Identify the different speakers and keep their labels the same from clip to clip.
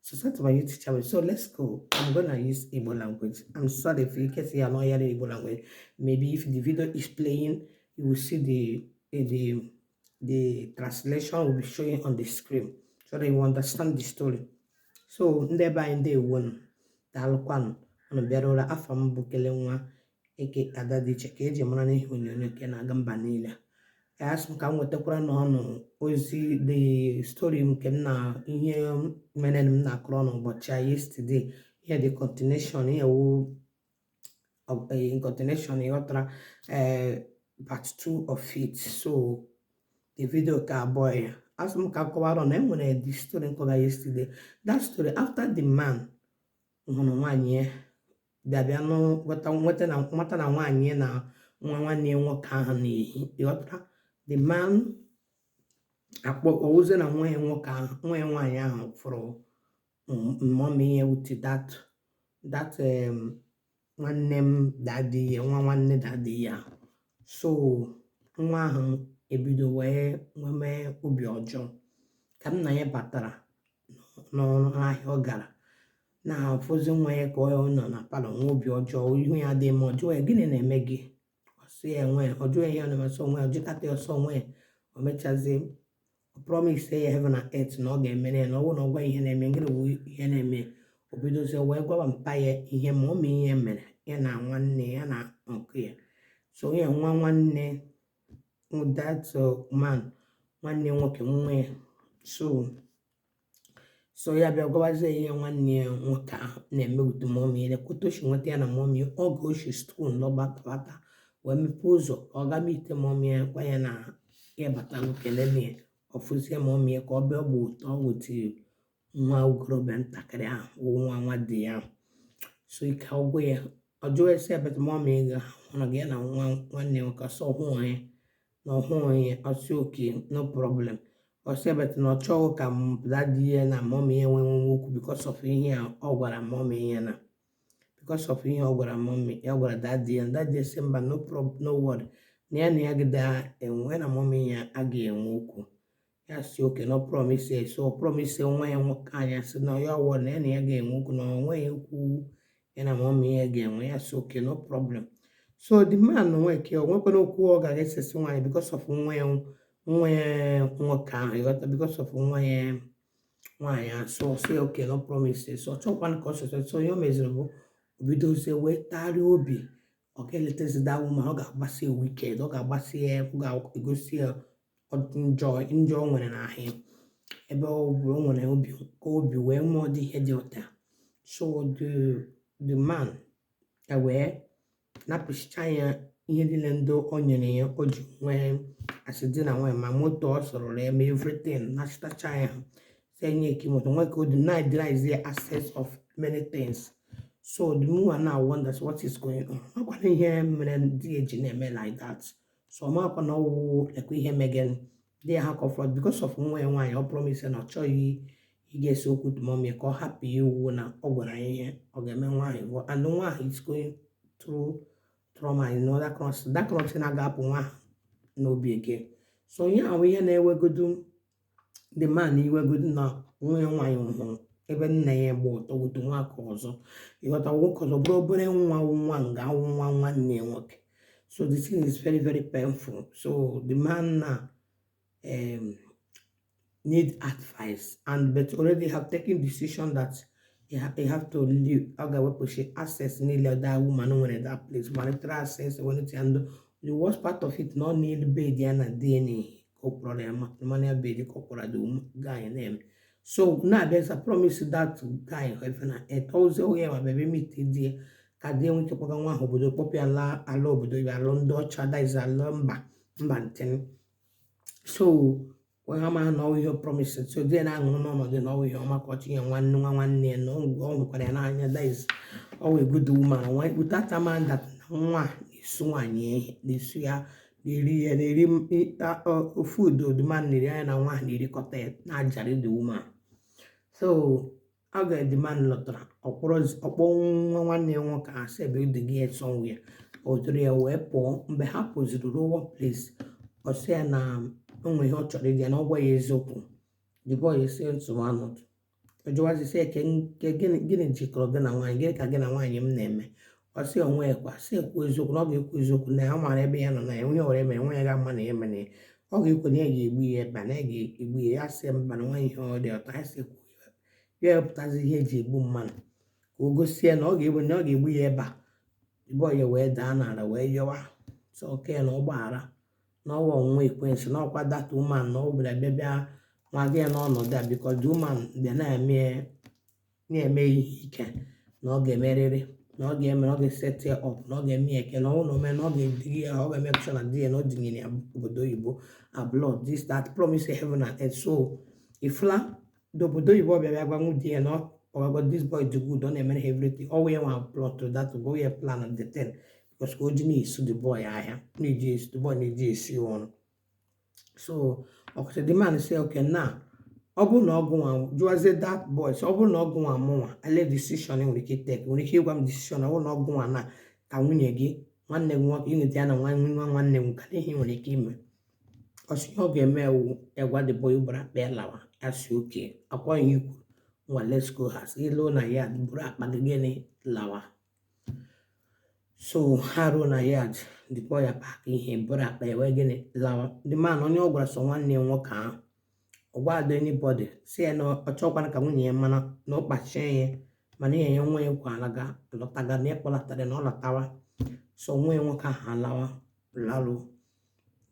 Speaker 1: So that's my YouTube channel. So let's go. I'm gonna use Igbo language. I'm sorry if you can see I'm not hearing Igbo language. Maybe if the video is playing, you will see the eh, the the translation will be showing on the screen so that you understand the story. So ndị be anyị ndewo nụ daalụkwanụ unu bịarụla afa m bụ kele nwa eke ada dị iche ka eji mara n'ihe onyonyo nke na-aga mba niile asị m ka m wetakwara unu ozi the story m nke m na ihe mere m na-akọrọ unu ụbọchị a yesterday ihe dị continuation ihe wụ of- eh, in continuation ịghọtara eh, part 2 of it so the video ka abụọ ya asị m ka m kọwara unu enwere the story m kọga yesterday that story after the man hụrụ nwaanyị ya bịa bịa nụ nweta na nwaanyị ya na nwa nwanne ya nwoke ahụ na-ehi ị ghọtara the man akpọ ọ wụzie na nwa ya nwoke ahụ nwa ya nwaanyị ahụ fụrụ mọmi ya with that that em, nwanne m dadi ya nwa nwanne dadi ya so nwa ahụ ebido wee nwee obi ọjọọ ka nna ya batara n'ahịa ọ gara na ọ fụzie nwa ya ka ọ nọ na palọ nwee obi ọjọọ ihu ya adịghị mma ọ jụọ ya gịnị na-eme gị ọ sị ya o nweghị ọ jụọ ya ọ sị o nweghị ọ jụkata ya ọ sị o nweghị o mechazie promise ya heaven and earth na ọ ga-emere ya na ọ bụrụ na ọ gwa ihe na-eme ngịrị wụ ihe na-eme o bidozie wee gwaba mpa ya ihe mọmi ya mere ya na nwanne ya nwoke ya so ya nwa nwanne with that uh, man nwanne nwoke nwa ya so so ya bịa gwabazie ihe nwanne ya nwoke ahụ na-eme with mọmi ya na-ekwu otu o shi nweta ya na mọmi oge o shi skuul lọbata nwata wee mepee ụzọ ọ gaba ite mọmi ya gwa ya na ya abatala kelee ya ọ fụzie mọmi ya ka ọ bịa ọ gba ọtọ with nwa okorobịa ntakịrị ahụ bụ nwa nwa di ya ahụ so ike agwụ ya ọ jụọ ya sị but mọmi gị ahụ na gị ya na nwa nwanne ya nwoke ọ sị ọ hụ ya na ọ hụ ya ọ sị oke no problem ọ sị ya but na ọ chọghị ka dadi ya na mọm ya nwee nwe okwu because of ihe a ọ gwara mọm ya na because of ihe ọ gwara mọm ya gwara dadi ya dadi ya sị mba no problem no word na ya na ya gị daa enwe na mọm ya agaghị enwe okwu ya sị oke na ọ promise ya so ọ promise nwa ya nwoke ahụ ya sị na ya ọ wụ na ya na ya ga-enwe okwu na o nweghị okwu ya na mọmị ya ga-enwe ya sị oke no problem so the man nwe ke o nwekwana okwu ọ ga-esesi nwaanyị because of nwa ya nwa ya nwoke ahụ ị ghọta because of nwa ya nwaanyị so sị oke na ọ promise so ọ chọkwana ka ọ sọsọ so ihe o meziri bụ o bidozie wee tarịa obi ọ ga-eletezi that woman ọ ga-agbasi ya wicked ọ ga-agbasi ya ọ ga-egosi ya ụdị njọ njọ o nwere n'ahụ ya ebe ọ bụ o nwere obi ka obi wee mee ụdị ihe dị otu a so the the man ewee napụchicha ya ihe niile ndị o nyere ya o ji nwee asị di na nwanyị ma moto ọ zụrụ ya ma everything nachịtacha ya sị nye key moto ya ka ọ deny deny is the access of many things so the woman now wonders what is going on ọ makwa na ihe mere di ya ji na-eme like that so ọ makwa na ọwụ like ihe megen they ha comfort because of nwa ya nwaanyị ọ promise na ọ chọghị i get so good mom ya ka ọ hapụ iwu na ọ gwara ya ihe ọ ga-eme nwaanyị and nwa ahụ is going through trauma in other cross that cross na-aga apụ nwa n'obi again so ihe ahụ ihe na-ewegodu the man iwegodu na nwa ya nwaanyị hụrụ ebe nne ya gba ọtọ with nwoke ọzọ ịghọta nwoke ọzọ bụrụ obere nwa wụ nwa nga wụ nwa nwanne ya nwoke so the thing is very very painful so the man now um, need advice and but already have taken decision that he, ha he have to leave ọ ga-ewepụchi access niile that woman nwere that place monetary access wenetị and the worst part of it na ọ n'elu bed ya na di ya ka ọ kpọrọ ya matrimonial bed ka ọ kpọrọ the guy na-eme so na-abịaza promise that guy heaven and earth ọ sị oge ya ma bebe meet di ya ka di ya nwee ike kpọga nwa ahụ obodo kpọpụ ya laa ala obodo ya ala ndị ọcha that is ala mba mba ntịn so wee ha ma na ọwụ ihe ọ promise so di ya na-aṅụrụ n'ọnọdụ na ọwụ ihe ọma ka ọchị ya nwanne nwa nwanne ya na ọ hụkwara ya n'anya that is ọwụ a good woman without ịma that nwa ahụ na-eso nwaanyị na-eso ya na-eri ya na-eri m ịta ọ- ọ- food the man na-eri ya na nwa ahụ na-erikọta ya na-ajara the woman so oge the man lọtara ọ kpọrọ ọ kpọọ nwa nwanne ya nwoke a sị ya bịa duga ya somewhere o duru ya wee pụọ mgbe ha pụziri ruo one place ọ sị ya na o nwere ihe ọ chọrọ ịjụ ya na ọ gwa ya eziokwu the boy sị nsogbu anọdụ ọ jụwazi sị eke nke gịnị gịnị jikọrọ gị na nwaanyị gịnị ka gị na nwaanyị m na-eme ọ sị o nweghịkwa sị ya kwuo eziokwu na ọ ga-ekwu eziokwu na ya mara ebe ya nọ na ya onye were mere nwa ya ga-ama na ya mere ya ọ ga-ekwe na ya ga-egbu ya ebe a na ya ga-egbu ya ya sị mba na o nweghị ihe dị otu a ya sị okay ya ewepụtazi ihe e ji egbu mmadụ ka o gosi ya na ọ ga-egbu na ọ ga-egbu ya ebe a the boy ewee daa n'ala wee yọwa sị okay na ọ gbaghara na ọwụ ọnwụnwa ekwensu na ọkwa that woman na ọ bịara bịa bịa nwaga ya n'ọnọdụ a because the woman bịa na-eme na-eme ihe ike na ọ ga-emerịrị na ọ ga-eme na ọ ga-eset ya up na ọ ga-eme ya eke na ọwụ na o mee na ọ ga-ediri ya ọ ga-emake sure na di ya na o dunyere ya obodo oyibo abroad this that promise heaven and earth so ifla n'obodo oyibo ọ bịara gwa nwunye ya na ọ kpọrọgo this boy dị good ọ na-emere ha everything ọ wee nwa plot that go ya plan and the ten because ka o ji na-eso the boy ahịa na-eji esi the boy na-eji esi ọrụ so ọ kọchaa the man say okay na ọ bụrụ na ọ gụnwa jụazie that boy so ọ bụrụ na ọ gụnwa mụnwa olee decision i nwere ike take nwere ike ịgwa m decision ọ bụrụ na ọ gụnwa na ka nwunye gị nwanne gị nwoke i nwude ya na nwa nwa nwanne gị ka ihe i nwere ike ime ọ sị ihe ọ ga-eme wụ ịgwa the boy buru akpa ya lawa ọ sị okay ọ kwa ihe i kwuru ngwa let's go as i ru na yard buru akpa gị gịnị lawa so ha ruo na yard the boy apack ihe buru akpa ya wee gịnị lawa the man onye ọ gwara sọ nwanne ya nwoke ahụ ọ gwaghị anybody sị ya na ọ chọkwara ka nwunye ya mara na ọ kpachie ya mana ihe ya nwa ya kwa alaga lọtaga na ịkpọlatara na ọ lọtawa so nwa ya nwoke ahụ alawa lalụ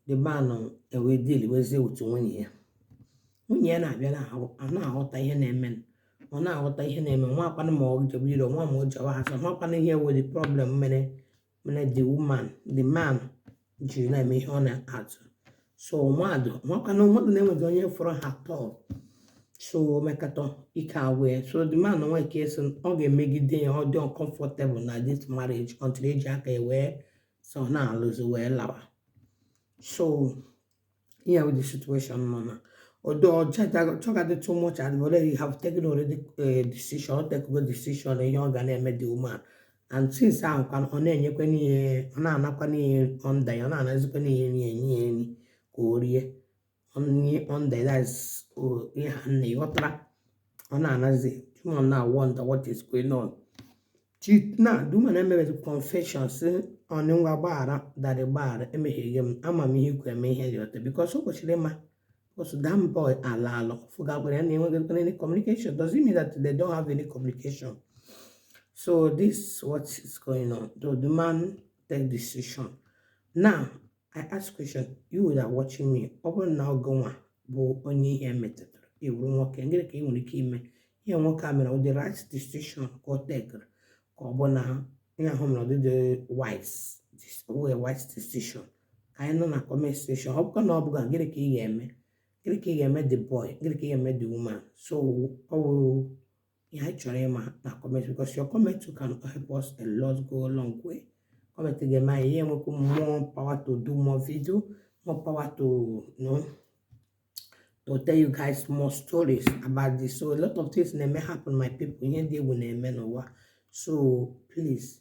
Speaker 1: the man ewee dealwezie with nwunye ya nwunye ya na-abịa na-ahụ- a na-aghọta ihe na-eme ọ na-aghọta ihe na-eme ọ makwana ma ọ jebe iru ọ ma ma ọ jebe azụ ọ makwana ihe wụ the problem mere mere the woman the man jiri na-eme ihe ọ na-atụ so mmadụ makwana mmadụ na-enweghị onye fụrụ ha tọọ so mekata ike agwụ ya so the man nwa ike sị ọ ga-emegide ya ọ dị uncomfortable na this marriage until o ji aka ya wee sị ọ na-alụzi wee lawa so ihe bụ the situation now na odo ọchọgadị too much and already you have taken already a decision ọ takego decision ihe ọ ga na-eme the woman and since ahụ kwa ọ na-enyekwa n'ihe ọ na-anakwa n'ihe ọ nda ya ọ na-anazikwa n'ihe nri enye ya nri ka o rie onye underlies ihe a na ị ghọtara ọ na-anazi the woman na wonder what is going on chit na the woman na emebezi confession sị ọnụ ngwa gbaghara daddy gbaghara emehiego m ama m ihe i ji eme ihe dị otu a because o kwesịrị ịma because that boy alaala ọ fụgakwara ya na enweghị any communication does it mean that they don't have any communication so this what is going on the man take decision now I ask question, you that are watching me, ọ bụrụ na ọ gụnwa bụ onye ihe a metụtara ị wụrụ nwoke ngịrị ka ị nwere ike ime ihe nwoke a mere ọ the right decision ka o takere ka ọ bụ na ihe ahụ o mere ọ dị dị wise wee wise decision ka anyị nụ na comment section ọ bụkwa na ọ bụ gị ngịrị ka ị ga-eme ngịrị ka ị ga-eme the boy ngịrị ka ị ga-eme the woman so ọ wụrụ ihe anyị chọrọ ịma na comment because your comment can help us a lot go a long way comment ga-eme anyị ihe enwekwu more power to do more video more power to you know to tell you guys more stories about this so a lot of things na-eme happen my people ihe dị egwu na-eme n'ụwa so please